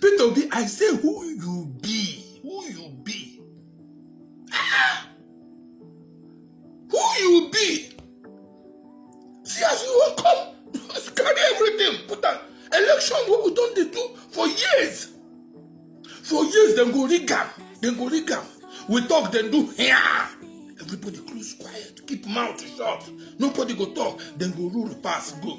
Peter Obi, I say who you be, who you be. Ah! Who you be? See as you wan come, you carry everything, put am. Election wey we don dey do for years. For years dem go rig am, dem go rig am. We talk, dem do here. Everybody close quiet, keep mouth shut. Nobody go talk, dem go rule pass go.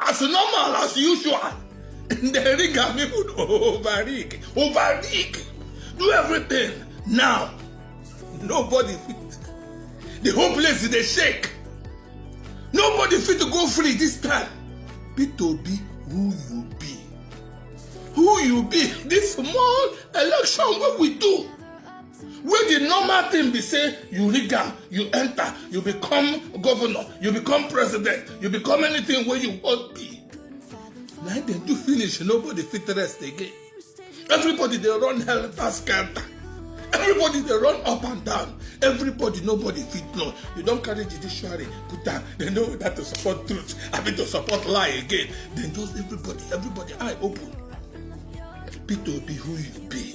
as normal as usual dem rig am even over rig over rig do everything now nobody fit the whole place dey shake nobody fit to go free this time be to be who you be who you be this small election wey we do wey di normal thing be say you rig am you enter you become governor you become president you become anything wey you wan be na im dem do finish nobody fit rest again everybody dey run helter skelter everybody dey run up and down everybody nobody fit know you don carry judiciary put am dem know whether to support truth abi to support lie again dem just everybody everybody eye open peter obi who you be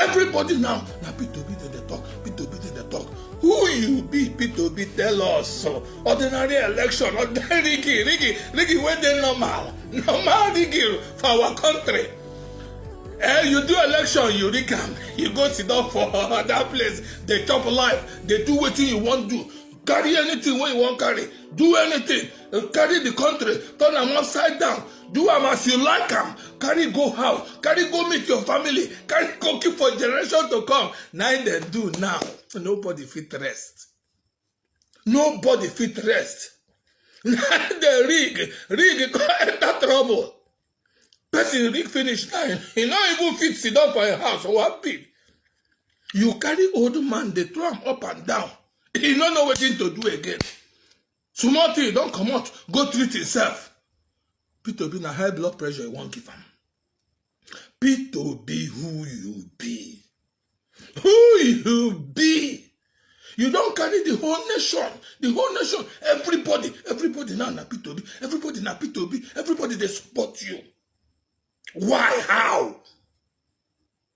everybody now na peter obi dem dey talk peter obi dem dey talk who you be peter obi tell us ordinary election ordinary rigging rigging rigging wey dey normal normal rigging for our country eh you do election you rig am you go sit down for other place dey chop life dey do wetin you wan do carry anything wey you wan carry do anything carry the country turn am upside down do am as you like am carry go house carry go meet your family carry go keep for generation to come na im dem do now nobody fit rest nobody fit rest na dem rig rig come enter trouble person rig finish now he no even fit sit down for im house or one pin you carry old man dey throw am up and down he no know wetin to do again small thing don comot go treat himself peter obi na high blood pressure you wan give am peter obi who you be who you be you don carry the whole nation the whole nation everybody everybody now na peter obi everybody na peter obi everybody dey support you why how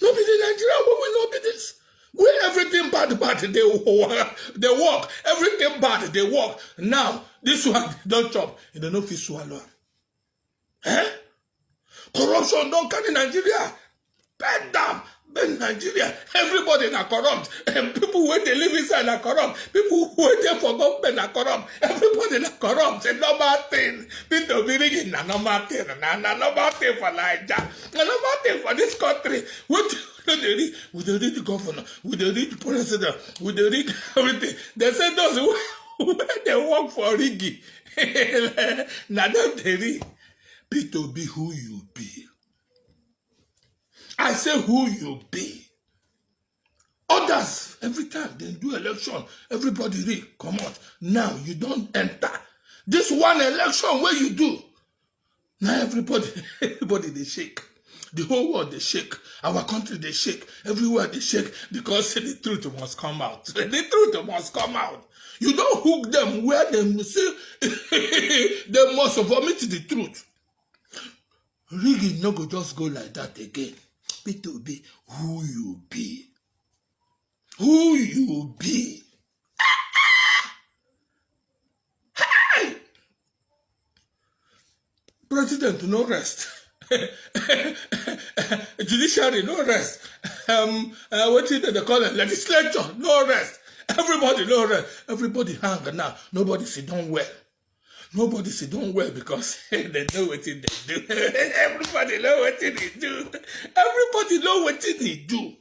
No be the Nigeria wey we no be this. Where everything bad, bad, they, they work. Everything bad, they work. Now, this one don't chop. You don't know if you swallow. Eh? Corruption don't carry Nigeria. Bend down. Bend Nigeria. Everybody na corrupt. And people where they live inside are corrupt. People where they for government are corrupt. Everybody na corrupt. It's a normal thing. People believe in a normal thing. Na, na normal thing for Nigeria. na normal thing for dis country wetin no dey read we dey read the governor we dey read the president we dey read everything dem say those wey dey work for rigging na dem dey read be to be who you be i say who you be others every time they do election everybody read come out now you don't enter this one election where you do now everybody everybody they shake the whole world they shake our country they shake everywhere they shake because the truth must come out the truth must come out you don't hook them where they see they must vomit the truth rigging no go just go like that again peter obi who you be who you be Hey! president no rest judiciary no rest um, uh, wetin dem dey call it legislature no rest everybody no rest everybody hang now nobody sit down well nobody say don well because they know what they do everybody know what they do everybody know what they do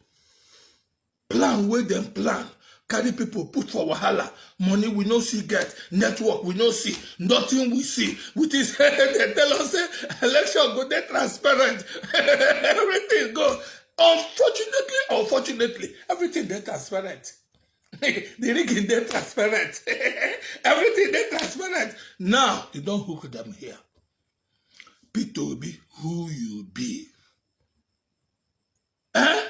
plan where them plan carry people put for wahala money we no see get network we no see nothing we see with this they tell us say election go dey transparent everything go unfortunately unfortunately everything dey transparent the rigging dey transparent everything dey transparent now you don hook them here peter obi who you be eh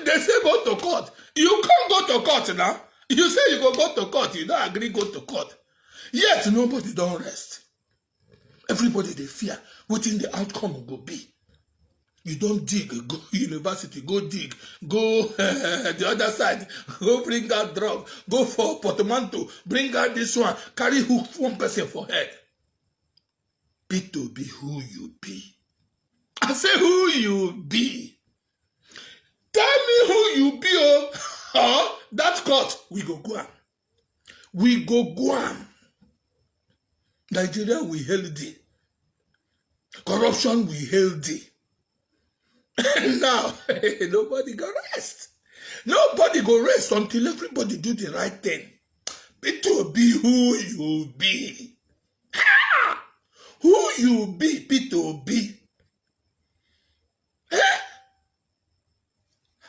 they say go to court you come go to court now you say you go go to court you don agree go to court yet nobody don rest everybody dey fear wetin the outcome go be you don dig go university go dig go uh, the other side go bring out drug go for portmanteau bring out this one carry hook one person for head be to be who you be i say who you be tell me who you be oh or that court we go go am we go go am nigeria we hail thee corruption we hail thee now nobody go rest nobody go rest until everybody do the right thing peter obi who you be Ha! who you be peter obi Eh?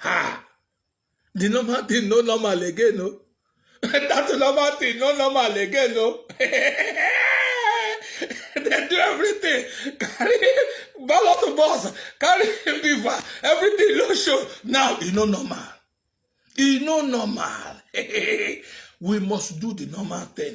ha the normal thing no normal again no that normal thing no normal again no they do everything carry ballot boss carry beaver everything no show now e no normal e no normal we must do the normal thing